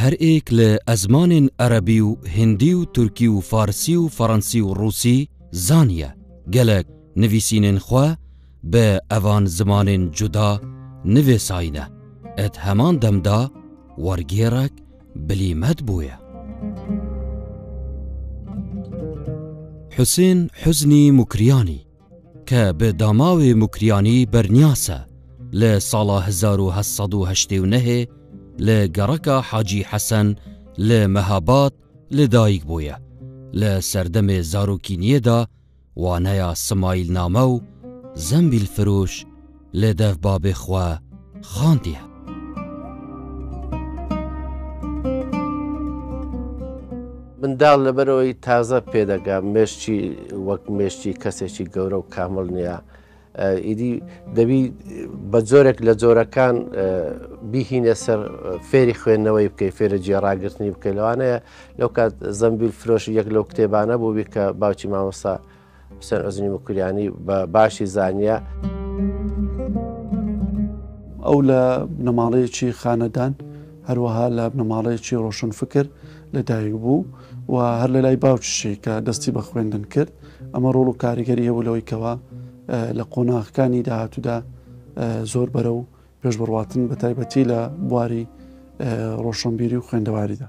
هەر ئێک لە ئەزمانێن ئەرەبی و هندی و تورکی و فارسی و فەڕەنسی و ڕووسی زانیە گەلەک نڤیسینێن خوە بە ئەڤان زمانێن جودا نڤێساینە، ئەت هەمان دەمدا وەرگێڕەک بلیمەت بویە. حسێن حوزنی موکریانی کە بە داماوێ موکریانی بەرنیاسە لە ساڵا هەزار و هەشت سەد و هەشتێ و نەێ لە گەڕەکا حاجی حەسەن لە مەهاباد لە دایک بویە، لە سەردەمێ زارۆکینیەێدا وانەیا سمایل نامە و زەمبیل فروش، لێ دەف با بێ خوا خان دیە. منداڵ لەبەرەوەی تازە پێدەگا مێشتی وەک مێشتی کەسێکی گەورە و کامل نییە ئیدی دەبی بە جۆرێک لە جۆرەکان بیهینە سەر فێری خوێندنەوەی بکەی فێرە جێڕاگررتنی بکەی لەوانەیە لەو کات زەمبیل فرۆش یەک لەو کتێبانە بووبی کە باوکی مامۆستا حوسێن عوزنی مکوریانی بە باشی زانیە. ئەو لە بنەماڵەیەکی خانەدان هەروەها لە بنەماڵەیەکی ڕۆشن فکر لە دایک بوو و هەر لە لای باوکشی کە دەستی بە خوێندن کرد ئەمە ڕۆڵ و کاریگەری هەبوو لەوەی کەەوە لە قۆناغەکانی داهاتوودا زۆر بەرە و پێش بڕاتن بە تایبەتی لە بواری ڕۆشنبیری و خوێندەواریدا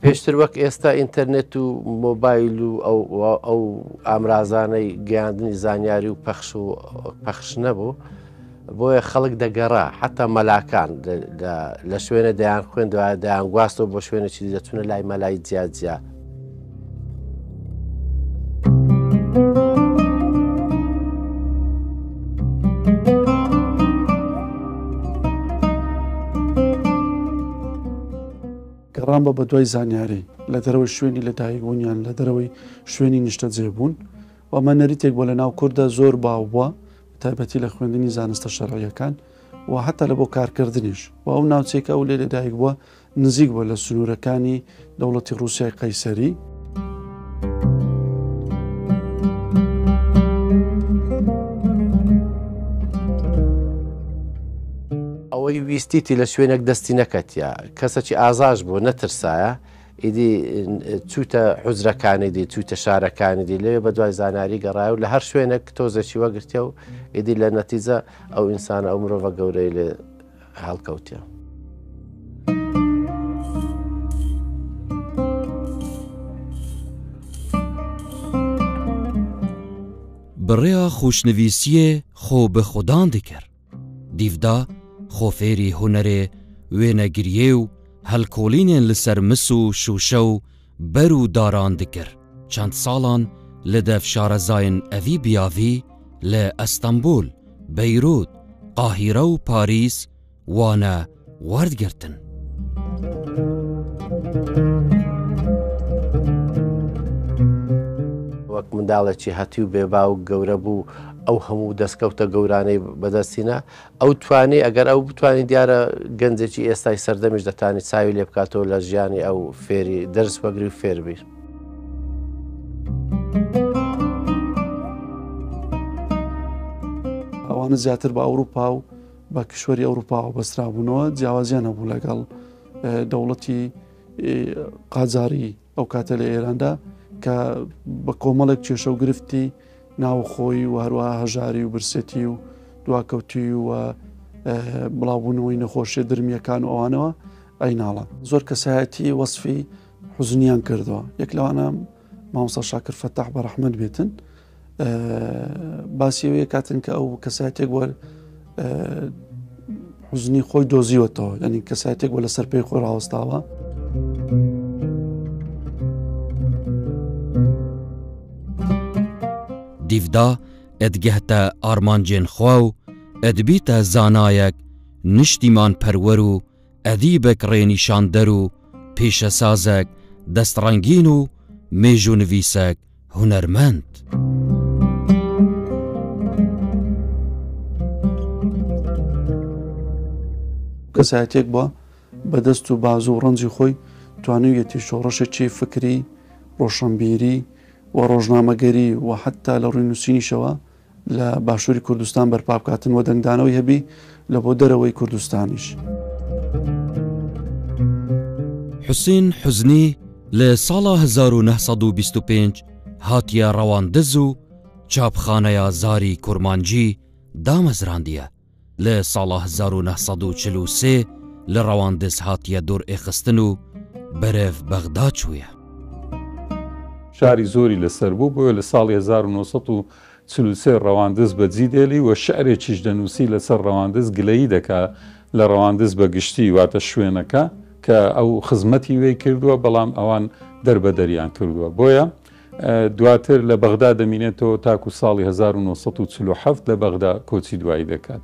پێشتر وەک ئێستا ئینتەرنێت و مۆبایل و ئەو ئامرازانەی گەیاندنی زانیاری و پەخش و پەخش نەبوو بۆیە خەڵک دەگەڕا حتا مەلاکان لە شوێنە دەیان خوێندوە دەیان گواستەوە بۆ شوێنێکی دەچونە لای مەلای جیاجیا گەڕان بە بەدوای زانیاری لە دەرەوەی شوێنی لە دایکبوونیان لە دەرەوەی شوێنی نیشتەجێ بوون و ئەمە نەریتێک بۆ لە ناو کوردە زۆر باو بووە تایبەتی لە خوێندنی زانستە شەرعیەکان و حتا لە بۆ کارکردنیش و ئەو ناوچێکە ئەو لێ لەدایک بووە نزیک بووە لە سنوورەکانی دەوڵەتی رووسای قەیسەری. ئەوەی ویستیتی لە شوێنێک دەستی نەکەتە کەسەکی ئازاش بوو نەترسایە ئیدی چووتە حوزرەکانی دی چووتە شارەکانی دی لێ بە دوای زانیاری گەڕایە و لە هەر شوێنێک تۆزێکی وەگرتێ و ئیدی لە نەتیجە ئەو ئینسانە ئەو مرۆڤە گەورەی لێ هەڵکەوتێ. بڕێا خوشنویسیێ خۆ بە خودان دکرد. دیڤدا خۆ فێری هونەرێ وێنەگریێ و هەلکۆڵینێن لە سەر مس و شووشە و بەر و داران دکرد. چەند ساڵان لە دەف شارەزاین ئەڤی بیاڤی لە ئەستەمبول، بەیروت، قاهیرە و پاریس وانە وەردگرتن. وەک منداڵێکی هەتیو بێ باوک گەورە بوو ئەو هەموو دەستکەوتە گەورانەی بەدەستینە ئەو توانێ ئەگەر ئەو بتوانین دیارە گەنجێکی ئێستای سەردەمیش دەتانی چاوی لێ بکاتەوە لە ژیانی ئەو فێری دەرس وەگری و فێربیر. ئەوانە زیاتر بە ئەوروپا و بە کشوەری ئەوروپاوە بەسترابوونەوە جیاوازیان هەبوو لەگەڵ دەوڵەتی قاجاری ئەو کاتە لە ئێراندا کە بە کۆمەڵێک کێشە و گرفتی ناوخۆی و هەروە هەژاری و برسێتی و دواکەوتی و بڵاوبوونەوەی نەخۆشیە درمیەکان و ئەوانەوە ئەیناڵە زۆر کەسایەتی وەصفی حزنیان کردووە یەک لەوانە مامۆستا شاکر فەتاح بە ڕەحمەت بێتن باسیەوەیە کاتن کە ئەو کەسایەتێک بووە حزنی خۆی دۆزیوەتەوە یعنی کەسایەتێک بۆ لەسەر پێی خۆی ڕاوەستاوە. دیفدا ئەدگەهتە ئارمانجێن خوا و ئەدبیتە زانایەک نیشتیمان پەروەەر و ئەدیبێک ڕێنیشاندەر و پیشەسازێک دەستڕەنگین و مێژوونڤیسێک هونەرمەند. کەسایەتیەک بووە بە دەست و بازوو و ڕەنجی خۆی توانویەتی شۆڕشێکی فکری ڕۆشنبیری و ڕۆژنامەگەری و حتا لە ڕووی نووسینیشەوە لە باشوری کوردستان بەرپا بکاتن و دەنگدانەوەی هەبی لە بۆ دەرەوەی کوردستانیش. حوسین حوزنی لە ساڵا 1925 هاتیە ڕەواندز و چاپخانەیا زاری کورمانجی دامەزراندیە، لە ساڵە هەزار و نۆ سەد و چل و سێ لە ڕەواندز هاتیە دور ئێخستن و بەرەڤ بەغدا چویە. شاری زۆری لە سەر بوو، بۆیە لە ساڵی هەزار و نۆ سەد و چل و سێ ڕەواندز بە جی دێلی و شعرێکیش دەنووسی لە سەر ڕەواندز گلەیی دەکا لە ڕەواندز بە گشتی واتە شوێنەکە کە ئەو خزمەتی وێی کردووە بەڵام ئەوان دەربەدەریان کردووە بۆیە دواتر لە بەغدا دەمینێتەوە تاکو ساڵی هەزار و نۆ سەد و چل و حەفت لە بەغدا کۆچی دوایی دەکات.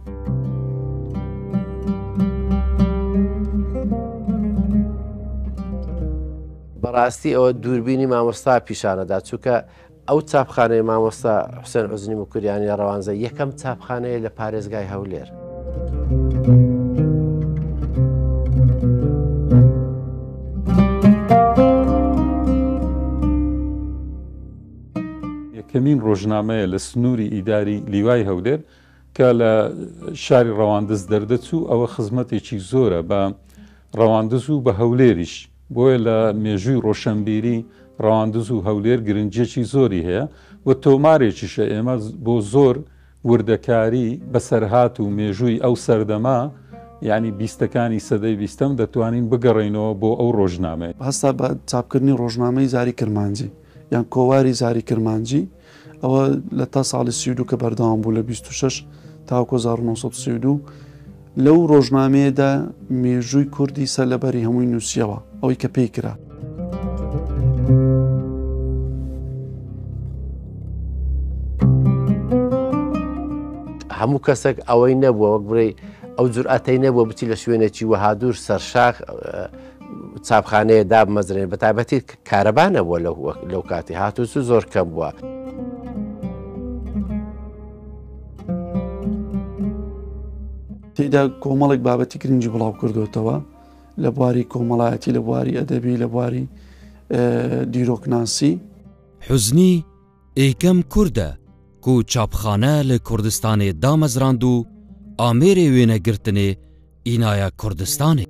بەڕاستی ئەوە دووربینی مامۆستا پیشانەدا چووکە ئەو چاپخانەی مامۆستا حوسێن عزنی مکوریانی ڕەوانزە یەکەم چاپخانەیە لە پارێزگای هەولێر یەکەمین ڕۆژنامەیە لە سنووری ئیداری لیوای هەولێر کە لە شاری ڕەواندز دەردەچوو ئەوە خزمەتێکی زۆرە بە ڕەواندز و بە هەولێریش بۆیە لە مێژووی ڕۆشنبیری ڕەواندز و هەولێر گرنجێکی زۆری هەیە و تۆمارێکیشە ئێمە بۆ زۆر وردەکاری، بەسەرهات و مێژووی ئەو سەردەمە، یانی بیستەکانی سەدەی بیستەم، دەتوانین بگەڕێینەوە بۆ ئەو ڕۆژنامەیە. هەستا بە چاپکردنی ڕۆژنامەی زاری کرمانجی یان کۆواری زاری کرمانجی، ئەوە لە تا ساڵی سی و دوو کە بەردەوام بوو لە بیست و شەش تاوەکۆ هەزار و نۆ سەد و سی و دوو، لەو ڕۆژنامەیەدا مێژووی کوردی سەر لەبەری هەمووی نووسیەوە ئەوەی کە پێی کرا. هەموو کەسێک ئەوەی نەبووە وەک بڵێ ئەو جورئەتەی نەبووە بچی لە شوێنێکی وەهادور سەرشاخ چاپخانەیە دابمەزرێن بە تابەتی کارەبا نەبووە لەو کاتی هاتوچ زۆر کەم بووە. تێدا کۆمەڵێک بابەتی گرنگی بڵاو کردوێتەوە لە بواری کۆمەڵایەتی لە بواری ئەدەبی لە بواری دیرۆکناسی حزنی ئێ کەم کوردە کو چاپخانە لە کوردستانێ دامەزراند و ئامێرێ وێنە گرتنێ ئینایە کوردستانێ.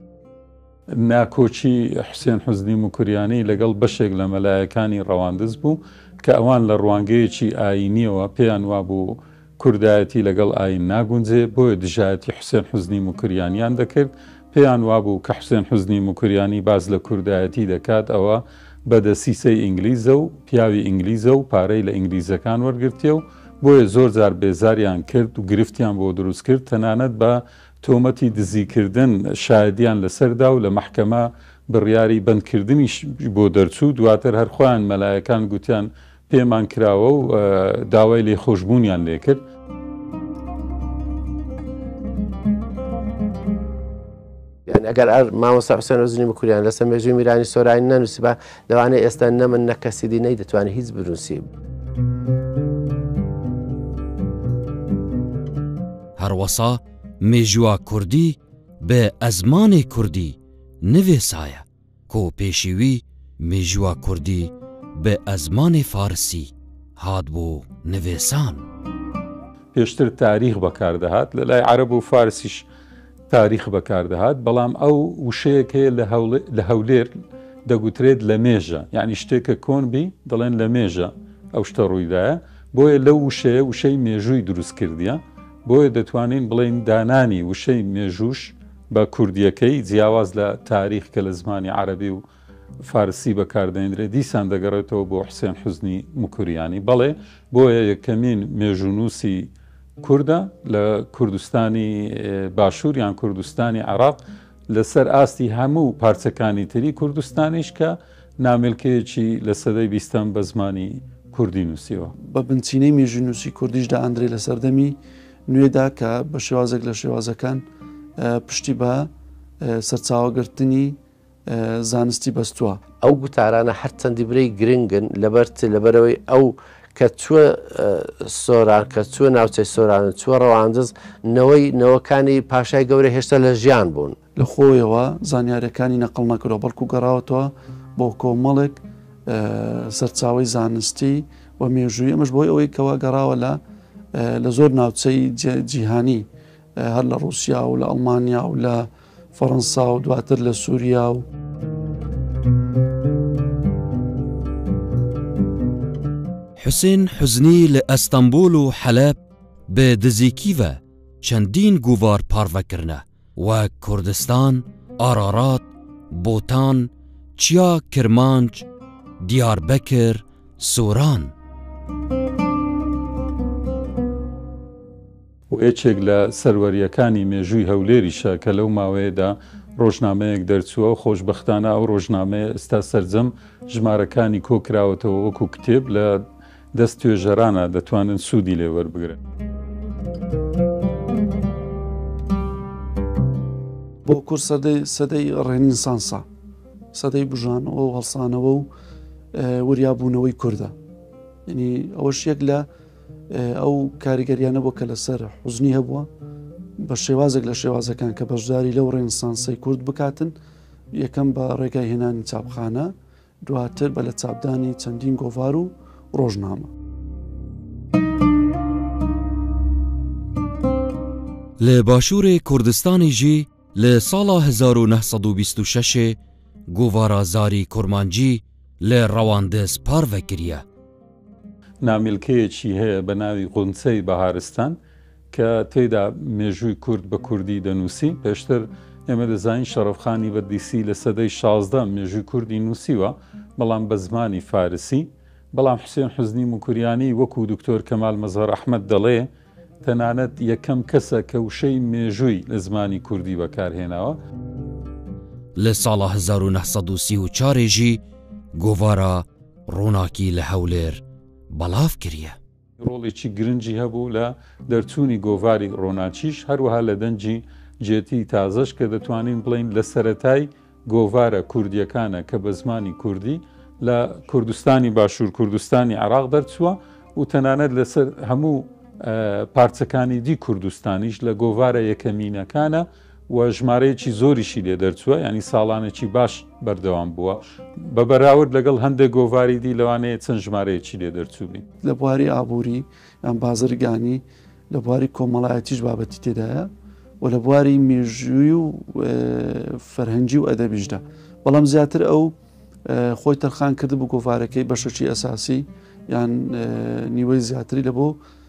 ناکۆکی حوسێن حوزنی موکریانی لەگەڵ بەشێک لە مەلایەکانی ڕەواندز بوو کە ئەوان لە ڕوانگەیەکی ئایینییەوە پێیان وابوو کوردایەتی لەگەڵ ئایین ناگونجێ، بۆیە دژایەتی حوسێن حوزنی موکریانیان دەکرد، پێیان وابوو کە حوسێن حوزنی موکریانی باس لە کوردایەتی دەکات ئەوە بە دەسیسەی ئینگلیزە و پیاوی ئینگلیزە و پارەی لە ئینگلیزەکان وەرگرتیە و بۆیە زۆر جار بێزاریان کرد و گرفتیان بۆ دروست کرد تەنانەت بە تۆمەتی دزیکردن شایەدیان لەسەر دا و لە مەحکەمە بڕیاری بەندکردنیش بۆ دەرچوو، دواتر هەر خۆیان مەلایەکان گوتیان پێمان کراوە و داوای لێ خۆشببوونیان لێکرد. ئەگەر ئەر مامۆسا حسێن وزنی بکوریان لەسەر مێژوی میرانی سۆرانی نەنووسبا لەوانە ئێستا نەمن نەکەسیدی نەی دەتوانانی هیچ بنووسی. هەروەسا مێژووا کوردی بە ئەزمانێ کوردی نوێسایە. کو پێشیوی میژوە کوردی بئ ئەزمانێ فارسی هات بۆ نڤسان. پێشتر تاریخ بەکاردەهات لە لای عەرەب و فارسیش تاریخ بەکاردەهات بەڵام ئەو وشەیەک هەیە لە هەولێر دەگوترێت لە مێژە یعنی شتێکە کۆن بی دەڵێن لە مێژە ئەو شتە ڕوویدایە بۆیە لەو وشەیە وشەی مێژووی دروست کردیە بۆیە دەتوانین بڵین دانانی وشەی مێژوش بە کوردییەکەی، جیاواز لە تاریخ کە لە زمانی عەرەبی و فارسی بەکاردەهێندرێت، دیسان دەگەڕێتەوە بۆ حوسێن حوزنی موکریانی، بەڵێ، بۆیە یەکەمین مێژوونووسی کوردە لە کوردستانی باشوور یان کوردستانی عێراق، لەسەر ئاستی هەموو پارچەکانی تری کوردستانیش کە نامیلکەیەکی لە سەدەی بیستەم بە زمانی کوردی نووسیوە. بە بنچینەی مێژوونووسی کوردیش دائەندرێ لە سەردەمی نوێدا کە بە شێوازێک لە شێوازەکان پشتی بە سەرچاوەگرتنی زانستی بەستووە. ئەو گوتارانە هەرچەندی برەی گرنگن لەبەرچ لەبەرەوەی ئەو کە چوە سۆران کە چوە ناوچەی سۆران چوە ڕەواندز نەوەی نەوەکانی پاشای گەورە هێشتا لە ژیان بوون. لە خۆیەوە زانیارییەکانی نەقڵ نەکردوە، بەڵکو گەڕاوەتەوە بۆ کۆمەڵێک سەرچاوەی زانستی و مێژووی، ئەمەش بۆی ئەوەی کەوا گەڕاوە لە لە زۆر ناوچەی جیهانی هەر لە ڕووسیا و لە ئەڵمانیا و لە فەڕەنسا و دواتر لە سووریا و. حوسێن حزنی لە ئەستەمبول و حەلەب بە دزیکیڤە چەندین گوڤار پارڤەکردە وەک کوردستان، ئارارات، بوتان، چیا، کرمانج، دیاربەکر، سوران. و یەکێک لە سەروەرییەکانی مێژووی هەولێریشە کە لەو ماوەیەدا ڕۆژنامەیەک دەرچووە، خۆشبەختانە ئەو ڕۆژنامەیە ئێستا سەرجەم ژمارەکانی کۆکراوەتەوە وەکو کتێب لە. دەست توێژەرانە دەتوانن سوودی لێ وەربگرن. بۆ کورد سەدەی ڕێنیسانسە سەدەی بژانەوە و هەڵسانەوە و وریابوونەوەی کووردە ینی ئەوەش یەک لە ئەو کاریگەریانە بۆ کە لەسەر حوزنی هەبووە بە شێوازێک لە شێوازەکان کە بەشداری لەو ڕێنسانسی کورد بکاتن یەکەم بە ڕێگای هێنانی چاپخانە دواتر بە لەچاپدانی چەندین گۆڤار و ڕۆژنامە. لە باشوورێ کوردستانی ژی لە ساڵا هەزار و نە سەد و بیست و شەشێ گۆڤارا زاری کورمانجی لە ڕەواندز پارڤە کریە. نامیلکەیەکی هەیە بە ناوی غونچەی بەهارستان، کە تێیدا مێژووی کورد بە کوردی دەنووسی، پێشتر ئێمە دەزانین شەڕەفخانی بەردیسی لە سەدەی شازدە مێژووی کوردی نووسیوە، بەڵام بە زمانی فارسی، بەڵام حوسێن حوزنی موکریانی وەکوو دکتۆر کەمال مەزهەر ئەحمەد دەڵێ، تەنانەت یەکەم کەسە کە وشەی مێژووی لە زمانی کوردی بەکار هێناوە. لە ساڵە هەزار و نە سەد و سی و چار ژی گۆڤارە ڕووناکی لە هەولێر بەڵاو کریە. ڕۆڵێکی گرنگی هەبوو لە دەرچوونی گۆڤاری ڕۆناکیش، هەروەها لە دەنگی جێتی تازەش کە دەتوانین بڵێین لە سەرەتای گۆڤارە کوردییەکانە کە بە زمانی کوردی لە کوردستانی باشوور کوردستانی عێراق دەرچووە و تەنانەت لەسەر هەموو پارچەکانی دی کوردستانیش لە گۆڤارە یەکەمینەکانە و ژمارەیەکی زۆریشی لێ دەرچووە یانی ساڵانێکی باش بەردەوام بووە بە بەراورد لەگەڵ هەندێک گۆڤاری دی لەوانەیە چەند ژمارەیەکی لێ دەرچووبی لە بواری ئابووری یان بازرگانی لە بواری کۆمەڵایەتیش بابەتی تێدایە و لە بواری مێژووی و فەرهەنگی و ئەدەبیشدا بەڵام زیاتر ئەو خۆی تەرخان کرد بۆ گۆڤارەکەی بەشەکی ئەساسی یان نیوەی زیاتری لە بۆ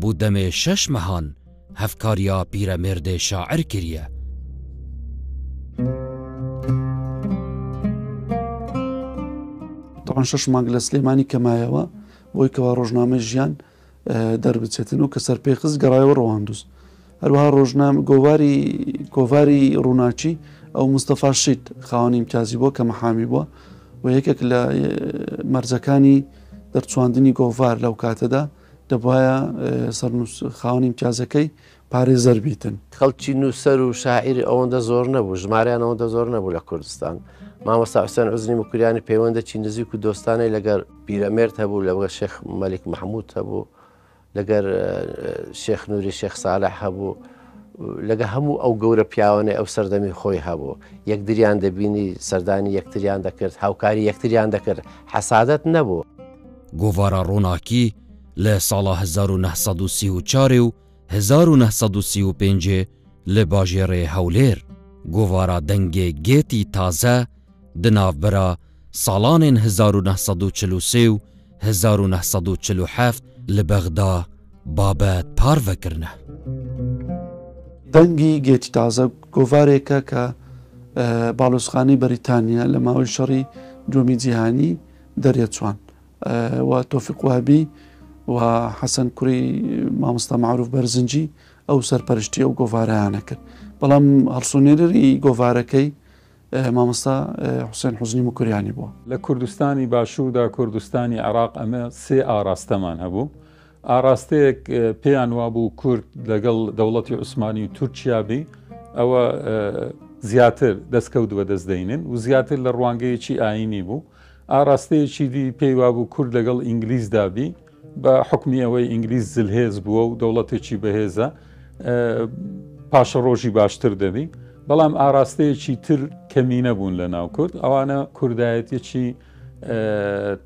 بو دەمێ شەش مەهان هەڤکاریا پیرەمێردێ شاعر کریە. تەبعەن شەش مانگ لە سلێمانی کە مایەوە بۆی کەوا ڕۆژنامەی ژیان دەربچێتن و کە سەرپێ خست گەڕایەوە ڕەواندوز هەروەها ڕۆژنام گۆواری کۆڤاری ڕووناچی ئەو مستەفا شیت خاوەنی امتیازی بۆ کە مەحامی بووە و یەکێک لە مەرجەکانی دەرچواندنی گۆڤار لەو کاتەدا دەبوایە سەرنووس خاوەنی ئیمتیازەکەی پارێزەر بیتن. خەڵکی نووسەر و شاعیری ئەوەندە زۆر نەبوو، ژماریان ئەوەندە زۆر نەبوو لە کوردستان. مامۆستا حوسێن عوزنی موکریانی پەیوەندێکی نزیک و دۆستانەی لەگەر پیرەمێرد هەبوو، لەگەر شێخ مەلیک مەحموود هەبوو، لەگەر شێخ نووری شێخ سالح هەبوو. لەگە هەموو ئەو گەورە پیاوانەی ئەو سەردەمی خۆی هەبوو یەکدریان دەبینی سەردانی یەکتریان دەکرد هاوکاری یەکتریان دەکرد حەسادت نەبوو. گۆڤارە ڕووناکی لە ساڵە 1934 و 1935 لە باژێڕێ هەولێر، گۆڤارە دەنگێ گێتی تازە، دە ناڤبەرا ساڵانێن هەزار و نە سەد و چل و سێ و هەزار و نە سەد و چل و حەفت لە بەغدا بابەت پارڤە کرنە. دەنگی گێتی تازە گۆڤارێکە کە باڵۆزخانەی بەریتانیا لە ماوەی شەڕی دووەمی جیهانی دەرێچوان و تۆفیق وابی و حەسەن کوڕی مامۆستا معروف بەرزنجی ئەو سەرپەرشتی ئەو گۆڤارەیانە کرد بەڵام هەڵسونێرری گۆڤارەکەی مامۆستا حوسێن حوزنی موکریانی بووە. لە کوردستانی باشووردا کوردستانی عێراق ئەمە سێ ئاراستەمان هەبوو. ئاراستەیەک پێیان وابوو کورد لەگەڵ دەوڵەتی عوسمانی و تورکیا بی ئەوە زیاتر دەستکەوت بەدەست دەینن و زیاتر لە ڕوانگەیەکی ئاینی بوو. ئاراستەیەکی دی پێی وابوو کورد لەگەڵ ئینگلیزدا بی. بە حوکمی ئەوەی ئینگلیز زلهێز بووە و دەوڵەتێکی بەهێزە پاشەڕۆژی باشتر دەبی بەڵام ئاراستەیەکی تر کەمی نەبوون لە ناو کورد ئەوانە کوردایەتێکی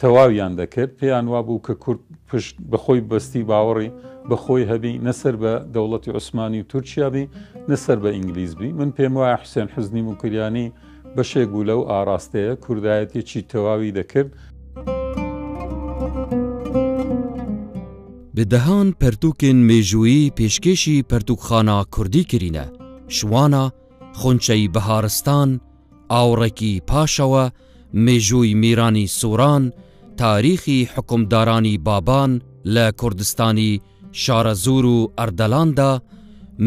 تەواویان دەکرد پێیان وابوو کە کورد پشت بەخۆی بەستی باوەڕی بەخۆی هەبی نەسەر بە دەوڵەتی عوسمانی و تورکیابی نەسەر بە ئینگلیزبی من پێم وایە حوسێن حزنی موکریانی بەشێک بوو لەو ئاڕاستەیە کوردایەتیی تەواوی دەکرد. بە دەهان پەرتووکێن مێژوویی پێشکێشی پەرتووکخانە کوردی کرینە، شوانە، خونچەی بەهارستان، ئاوڕێکی پاشەوە، مێژووی میرانی سووران، تاریخی حوکمدارانی بابان لە کوردستانی شارەزوور و ئەردەلاندا،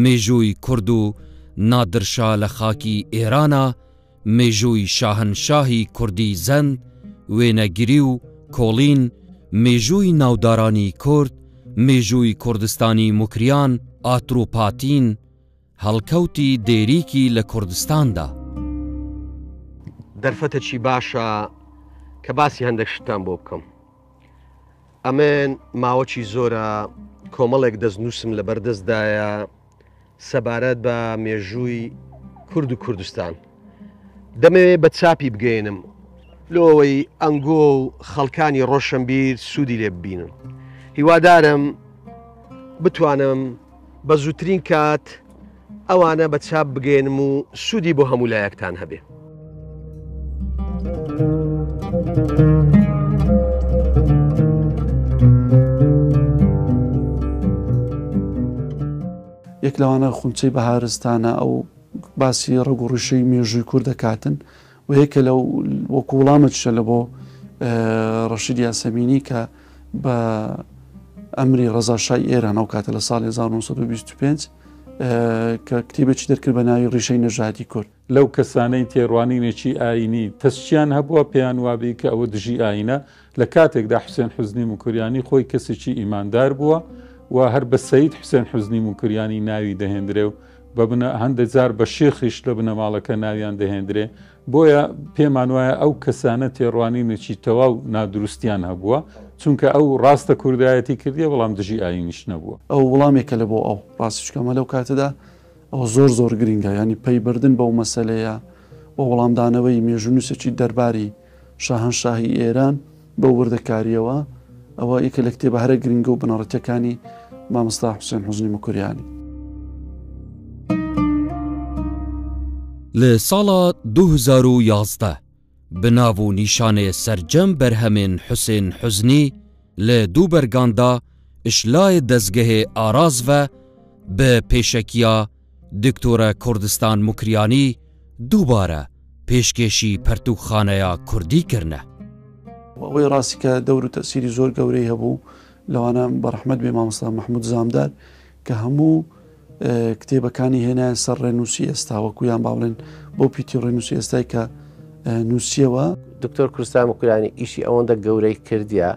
مێژووی کورد و نادرشا لە خاکی ئێرانا، مێژووی شاهنشاهی کوردی زەند، وێنەگری و کۆڵین، مێژووی ناودارانی کورد، مێژووی کوردستانی موکریان، ئاتروپاتین، هەڵکەوتی دێریکی لە کوردستاندا. دەرفەتە چی باشە کە باسی هەندەک شتان بۆ بکەم ئەمێن ماوەچی زۆرە کۆمەڵێک دەست نووسم لە بەردەستدایە سەبارەت بە مێژووی کورد و کوردستان دەمەوێ بە چاپی بگەێنم لۆەوەی ئەنگۆ و خەڵکانی ڕۆشنبیر سوودی لێ ببینن هیوادارم بتوانم بە زووترین کات ئەوانە بە چاپ بگەێنم و سوودی بۆ هەموو لایەکتان هەبێ. یەک لەوانە خونچەی بەهارستانە ئەو باسی ڕگوڕیشەی مێژووی کورد دەکاتن و یەکە لە وەکو وڵامەتشە لە بۆ ڕەشید یاسەمینی کە بە ئەمری ڕزاشای ئێران ئەو کاتە لە ساڵ 1925 کە کتێبێکی دەرکرد بە ناوی ڕیشەی نەژادی کورد لەو کەسانەی تێڕوانینێکی ئاینی تەسچیان هەبووە پێیان وابی کە ئەوە دژی ئاینە لە کاتێکدا حوسێن حوزنی موکریانی خۆی کەسێکی ئیماندار بووە و هەر بە سەید حوسێن حوزنی موکریانی ناوی دەهێندرێ و بە بنە هەندێک جار بە شێخیش لە بنەماڵەکە ناویان دەهێندرێ بۆیە پێمان وایە ئەو کەسانە تێڕوانینێکی تەواو نادروستیان هەبووە چونکە ئەو ڕاستە کوردایەتی کردیە بەڵام دژی ئاینیش نەبووە ئەو وڵامێکە لە بۆ ئەو ڕاستچکەمە لەو کاتەدا ئەو زۆر زۆر گرنگە ینی پەیبردن بەو مەسلەیە بۆ وەڵامدانەوەی مێژونووسێکی دەرباری شاهەنشاهی ئێران بەو وردەکارییەوە ئەوە یەکە لە کتێبە هەرە گرنگە و بنەڕەتەکانی مامۆستا حوسێن حوزنی مکوریانی. لە ساڵا دوو هەزار و یازدە بە ناو و نیشانێ سەرجەم بەرهەمێن حوسێن حوزنی لە دوو بەرگاندا ئشلاێ دەزگەێ ئاراز ڤە بە پێشەکیا دکتۆرە کوردستان موکریانی دووبارە پێشکێشی پەرتووکخانەیە کوردی کردە. وە ئەوەی ڕاستی کە دەور و تەئسیری زۆر گەورەی هەبوو لەوانە بە ڕەحمەت بێ مامۆستا مەحمود زامدار کە هەموو کتێبەکانی هێنایە سەر ڕێنووسی ئێستا وەکو یان با بڵێن بۆ پیتی ڕێنووسی ئێستای کە نووسیەوە. دکتۆر کوردستان موکریانی ئیشی ئەوەندە گەورەی کردە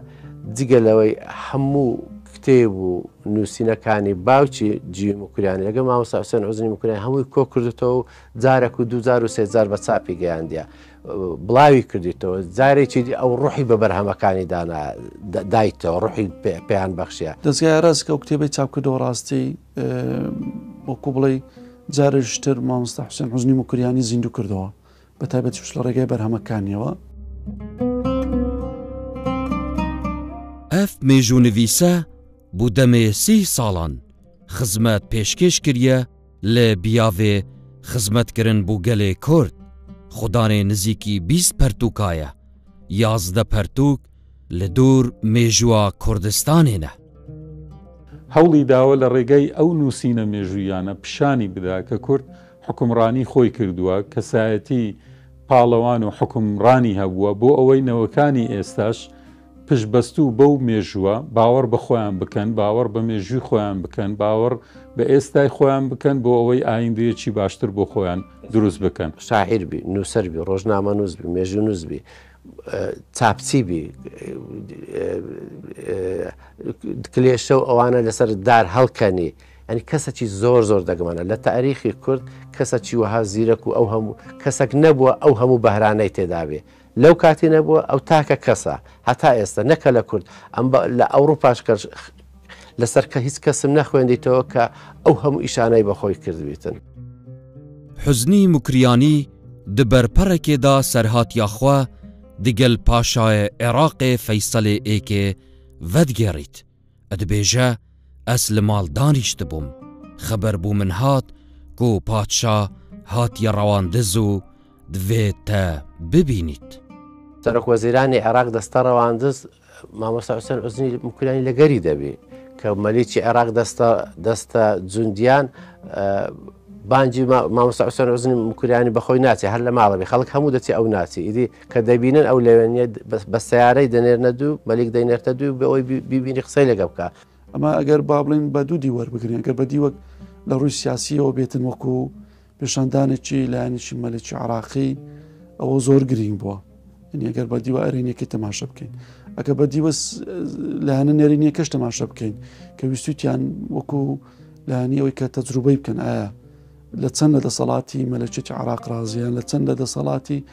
جگە لەوەی هەموو کتێب و نووسینەکانی باوکی جیوی مکوریانی لەگە مامۆستا حوسێن عزنی مکوریان هەمووی کۆ کردێتەوە و جارەک و دوجار و سێجار بە چاپی گەیاندە بڵاوی کردیتەوە جارێکی دی ئەو ڕوحی بە بەرهەمەکانی دانا دایتەوە ڕوحی پێیان بەخشە دەستگای ڕاستکە و کتێبی چاپکردەوە ڕاستی وەکو بڵێ جارشتر مامۆستا حوسێن حزنی مکوریانی زیندوو کردەوە بە تایبەتیش لە ڕێگای بەرهەمەکانیەوە. ئەف مێژوونڤیسە بو دەمێ سی ساڵان خزمەت پێشکێش کریە لە بیاێ خزمەت کرن بو گەلێ کورد، خو دانێ نزیکی بیست پەرتووکایە، یازدە پەرتووک لە دور مێژووە کوردستانێنە. هەوڵی داوە لە ڕێگای ئەو نووسینە مێژووییانە پیشانی بدا کە کورد، حوکمڕانی خۆی کردووە، کەسایەتی پاڵەوان و حوکمڕانی هەبووە، بۆ ئەوەی نەوەکانی ئێستاش پشتبەستوو بەو مێژووە، باوەڕ بە خۆیان بکەن، باوەڕ بە مێژووی خۆیان بکەن، باوەڕ بە ئێستای خۆیان بکەن، بۆ ئەوەی ئاییندەیەکی باشتر بۆ خۆیان دروست بکەن. شاعیر بی، نووسەر بی، ڕۆژنامەنووس بی، مێژوونووس بی، چاپچی بی، کلێشە و ئەوانە لەسەر دار هەڵکەنی، یانی کەسەکی زۆر زۆر دەگمەنە لە تاریخی کورد کەسەکی وەها زیرەک و ئەو هەموو کەسەک نەبووە ئەو هەموو بەهرانەی تێدابێ لەو کاتی نەبووە ئەو تاکە کەسە هەتا ئێستا نەکە لە کورد ئەم لە ئەوروپاش کە لەسەر کە هیچ کەسم نەخوێندیتەوە کە ئەو هەموو ئیشانەی بەخۆی کردویتن حزنی مکریانی دبەرپەڕێکێدا سەرهات یاخوا دگەل پاشایە عێراقێ فەیسەلێ ئێکێ ڤەدگێڕیت ئەدبێژە ئەز لە ماڵ دانیشتبووم، خەبەر بو من هات کو پادشا هاتیە ڕەواندز و دڤێد تە ببینید. سەرۆک وەزیرانی عێراق دەستە ڕەواندز مامۆستا حوسێن عوزنی مکریانی لەگەری دەبی کە مەلیکی عێراق دەستە دەستە جوندیان بانجی مامۆستا حوسێن عوزنی مکریانی بەخۆی ناچێ هەر لە ماڵەبی خەڵک هەموو دەچێ ئەو ناچی ئیدی کە دەبینن ئەو لەوێ نیە بە سیارەی دەنێرنە دوو مەلیک دەینێرتە دوو بە ئەوی بیبینی قسەی لەگە بکە ئەمە ئەگەر با بڵین بە دوو دیوەەر بگرین ئەگەر بە دیوەک لە ڕووی سیاسیەوە بێتن وەکو پێشاندانێکی لایەنیشی مەلێکی عراقی ئەوە زۆر گرنگ بووە ئەگەر بە دیوە ئەرێنیەکەی تەماشە بکەین ئەگە بە دیوە لایەنە نێرینیەکەش تەماشە بکەین کە ویستوتیان وەکو لایەنی ئەوەی کە تەجروبەی بکەن ئایا لە چەند لە دەسەڵاتی مەلەچێتی عراق ڕازیان لە چەند لە دەسەڵاتی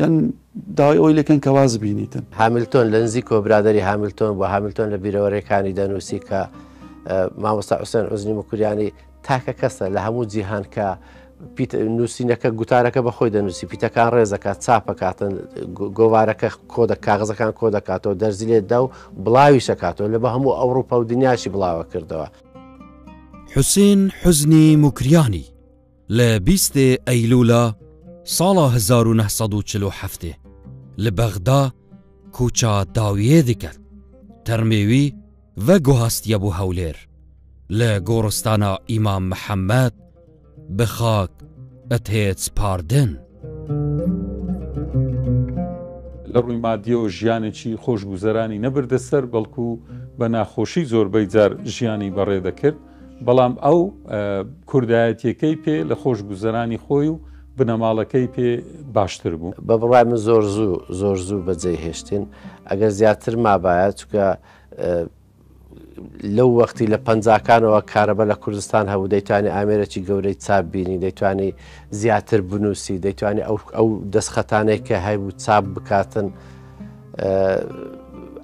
یان داوای ئەوەی لێکەن کە واز بینیتن. هامیلتۆن لە نزیک و برادەری هامیلتۆن بووە، هامیلتۆن لە بیرەوەرێکانی دەنووسی کە مامۆستا حوسێن عوزنی مکوریانی تاکە کەسە لە هەموو جیهان کە نووسینەکە گوتارەکە بە خۆی دەنووسی پیتەکان ڕێزەکە چاپەکاتن گۆوارەکە کۆدە کاغزەکان کۆ دەکاتەوە دەرزی لێدا و بڵاوی شەکاتەوە لە بە هەموو ئەوروپا و دنیاشی بڵاوە کردەوە حوسین حزنی مکریانی لە بیستێ ئەیلوولا ساڵا هەزار و نە سەد و چل و حەفتێ لە بەغدا کووچا داویێ دکرد، تەرمێوی ڤە گوهاستیە بوو هەولێر، لە گۆڕستانا ئیمام محەمەد بە خاک ئەتێت سپاردن. لە ڕووی مادیەوە ژیانێکی خۆشگوزەرانی نەبردە سەر، بەڵکوو بە ناخۆشی زۆربەی جار ژیانی بەڕێ دەکرد. بەڵام ئەو کوردایەتیەکەی پێ لە خۆش گوزەرانی خۆی و بنەماڵەکەی پێ باشتر بوو. بە بڕای من زۆر زوو زۆر زوو بە جێی هێشتین ئەگەر زیاتر مابایە چکە لەو وەختی لە پەنجاکانەوە کارەبە لە کوردستان هەبوو دەیتوانی ئامێرەی گەورەی چاپ بینی دەیتوانی زیاتر بنووسی دەیتوانی ئەو ئەو دەستخەتانەی کە هەبوو چاپ بکاتن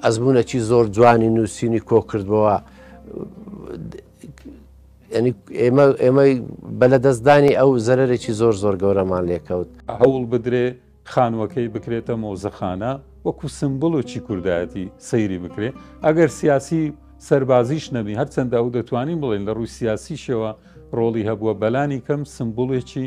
ئەزمونونەکی زۆر جوانی نووسینی کۆکردەوە ینی ئێمە ئێمەی بە لە دەستدانی ئەو زەرێکی زۆر زۆر گەورەمان لێکەوت هەوڵ بدرێ خانووەکەی بکرێتە مۆزەخانە وەکو سمبل و چی کوردایەتی سەیری بکرێ ئەگەر سیاسی سەربازیش نەبی هەرچەندە ئەو دەتوانین بڵێن لە ڕووی سیاسیشەوە ڕۆڵی هەبووە بەلانی کەم سمبولێکی